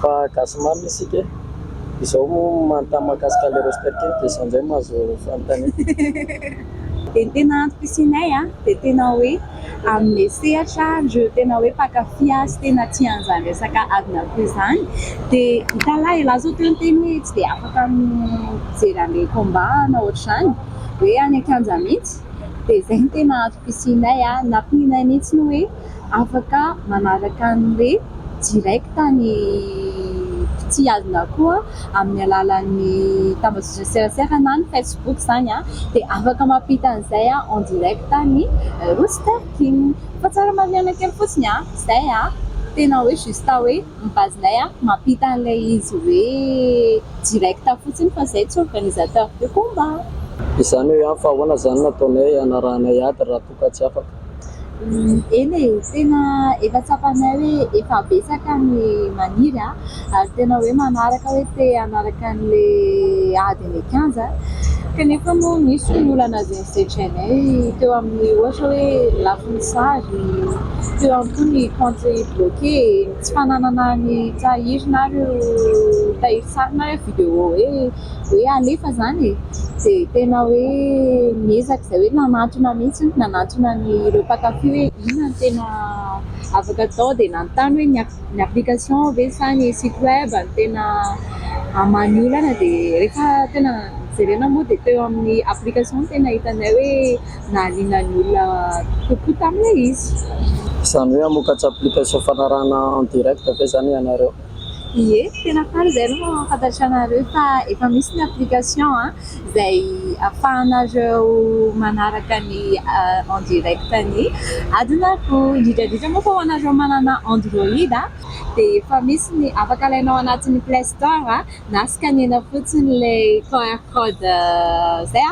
fa gasy marina isika e! izao manontany mahakasika an'ilay roster kely dia izao indray no azo fanontaniana. Dia ny tena antom-pisianay an, dia tena hoe amin'ilay sehatra ireo tena hoe mpankafy azy tena tia an'izany resaka adin'akoho izany dia hitalahy e! la zao teo ny teny hoe tsy dia afaka mijery an'ilay combat na ohatr'izany hoe any an-kianja mihitsy dia izay no tena antom-pisianay an, nampianay mihitsy ny hoe. afaka manaraka ny hoe direct ny mpitsihazona koa amin'ny alalan'ny tambajotran-tserasera na ny facebook izany an, dia afaka mampita an'izay en direct ny Rooster King. Fa tsara marihina kely fotsiny an, izay an, tena hoe juste hoe ny base nay an, mampita an'ilay izy hoe direct fotsiny fa izay tsy organisateurs de combat. Izany hoe an, fa ahoana izany no ataonay hanarahanay ady raha toa ka. ka tsy afaka. Eny e, tena efa tsapanay hoe efa betsaka ny maniry ary tena hoe manaraka hoe te hanaraka an'ilay ady any an-kianja kanefa moa misy ny olana izay nosedrainay teo amin'ny ohatra hoe lafiny sary, teo ihany koa ny compte bloqué, tsy fananana ny tahiry na ireo tahirin-tsary na ireo vidéo hoe. hoe alefa izany e! dia tena hoe niezaka izay hoe nanantona mihitsy, nanantona an'ireo mpankafy hoe inona no tena afaka atao dia nanontany hoe ny application ve sa ny site web no tena hahamany olana dia rehefa tena jerena moa dia teo amin'ny application no tena hitanay hoe nahaliana ny olona kokoa tamin'ilay izy. Izany hoe hamokatr'application fanarahana en direct ve izany ianareo? Ie, tena faly izay aloha mampahafantatra anareo fa efa misy ny application izay afahanareo manaraka ny en direct ny adinareo. Indrindra indrindra moa fa ho anareo manana android dia efa misy ny afaka alainao ao anatin'ny play store na scanner-na fotsiny ilay qr code izay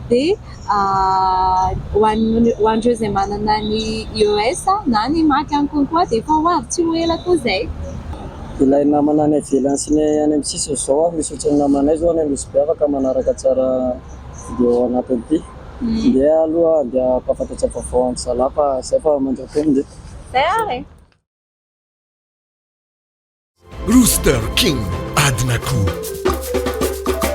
dia Ho an'ireo izay manana ny ios na ny mac any konkoa dia efa ho avy tsy ho ela koa izay. Ilay namana any ivelany sy ny any amin'ny sisiny izao ary misy ohatry ny namanay izao any Nosy be afaka manaraka tsara video ao anatin'ity. Ndeha aloha ndeha hampahafantatra vaovao an-dry zalahy fa izay fa mandroa teny nge. Izay ary e! Rooster King adin'akoho.